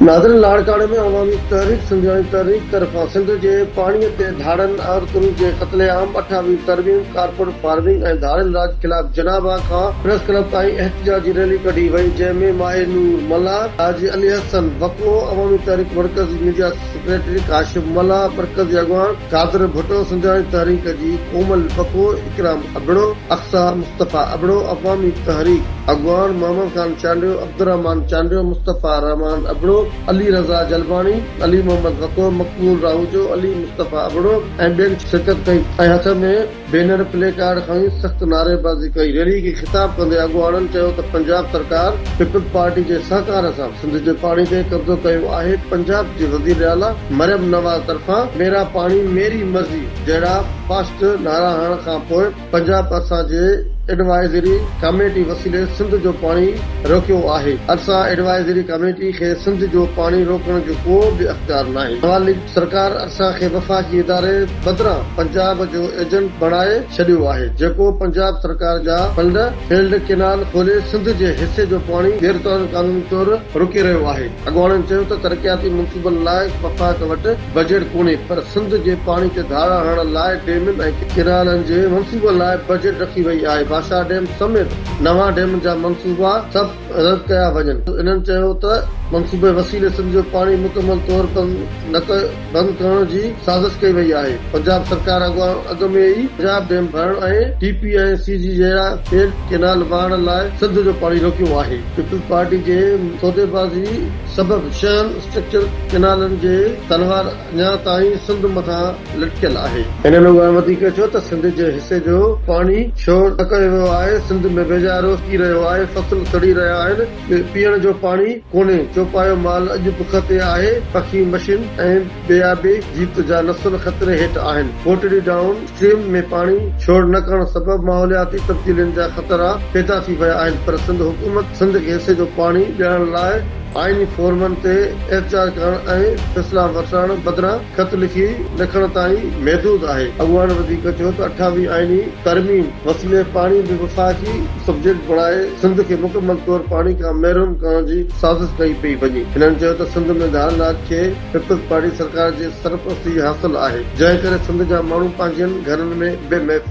ناظرين لاڙڪاڻي ۾ عوامي تحريڪ سنڌياڻي تحريڪ طرفان سنڌ جي پاڻي تي ڌاڙن، عورتن جي قتل عام، اٺاوي ترميم، ڪارپوٽ فارمنگ ۽ ڌاڙيل راڄ خلاف جناح باغ کان پريس ڪلب تائين احتجاجي ريلي ڪڍي وئي جنهن ۾ ماهي نور ملاح، حاجي علي حسن بڪوء، عوامي تحريڪ مرڪزي ميڊيا سيڪريٽري ڪاشف ملاح، مرڪزي اڳواڻ. قادر ڀٽو سنڌياڻي تحريڪ جي ڪومل پکو، اڪرام ابڙو، اقصيٰ مصطفيٰ ابڙو، عوامي تحريڪ اڳواڻ محمد خان چانڊيو، عبدالرحمان چانڊيو، مصطفيٰ رحمان ابڙو، علي رضا جلباڻي، علي محمد وڪو، مقبول راهوجو، علي مصطفيٰ ابڙو ۽ ٻين شرڪت ڪئي ۽ هٿ ۾ بينر پلي ڪارڊ کڻي سخت نعريبازي ڪئي، ريلي کي خطاب ڪندي اڳواڻن چيو ته پنجاب سرڪار پيپلز پارٽي جي سهڪار سان سنڌ جي پاڻي تي قبضو ڪيو آهي، پنجاب جي وزيراعليٰ مريم نواز طرفان ميرا پاڻي ميري مرضي جهڙا فاسٽ نعرا هڻڻ کانپوء پنجاب ارسا جي ايڊوائزري ڪاميٽي وسيلي سنڌ جو پاڻي روڪيو آهي، ارسا ايڊوائزري ڪاميٽي کي سنڌ جو پاڻي روڪڻ جو ڪو به اختيار ناهي، نواليگ سرڪار ارسا کي وفاقي اداري. بدران پنجاب جو ايجنٽ بڻائي ڇڏيو آهي جيڪو پنجاب سرڪار جا فنڊ فيلڊ ڪينال کولي سنڌ جي حصي جو پاڻي غير قانوني طور روڪي رهيو آهي اڳواڻن چيو ته ترقياتي منصوبن لاء وفاق وٽ بجيٽ ڪونهي پر سنڌ جي پاڻي تي ڌاڙا هڻڻ لاء ڊيمن ۽ ڪينالن جي منصوبن لاء بجيٽ رکي وئي آهي باشاهه ڊيم سميت نوان ڊيمن جا منصوبا سڀ رد ڪيا وڃن انهن چيو ته منصوبي وسيلي سنڌ جو پاڻي مڪمل طور بند نه بند ڪرڻ جي سازش ڪئي وئي آهي، پنجاب سرڪار اڳواڻ اڳ ۾ ئي پنجاب ڊيم ڀرڻ ۽ ٽي پي ۽ سي جي جهڙا کيڏ ڪئنال وهائڻ لاء سنڌ جو پاڻي روڪيو آهي، پيپلز پارٽي جي سوديبازي سبب شهن اسٽرڪچر ڪئنالن جي تلوار اڃا تائين سنڌ مٿان لٽڪيل آهي. هنن اها وڌيڪ چيو ته سنڌ جي حصي جو پاڻي ڇو نه ڪيو ويو آهي، سنڌ ۾ ويجهارو ٿي رهيو آهي، فصل سڙي رهيا آهن، ۾ پيئڻ جو پاڻي ڪونهي، چوپايو مال اڄ بک تي آهي، پکي مشين ۽ ٻيابي جيت جا نسل خطري هيٺ آهن، ڪوٽڙي ڊائون اسٽريم ۾ پاڻي ڇوڙ نه ڪرڻ سبب ماحولياتي تبديلين جا خطرا پيدا ٿي ويا آهن پر سنڌ حڪومت سنڌ کي حصي جو پاڻي ڏيڻ لاء آئيني فورمن تي احتجاج ڪرڻ ۽ فيصلا وٺرائڻ بدران خط لکي لکڻ تائين محدود آهي. اڳواڻن وڌيڪ چيو ته اٺاويهه آئيني ترميم وسيلي پاڻي به وفاقي سبجيڪٽ بڻائي سنڌ کي مڪمل طور پاڻي کان محروم ڪرڻ جي سازش ڪئي پئي وڃي. هنن چيو ته سنڌ ۾ ڌار ناچ کي پيپلز پارٽي سرڪار جي سرپرستي حاصل آهي جنهن ڪري سنڌ جا ماڻهو پنهنجن گهرن ۾ بي محفوظ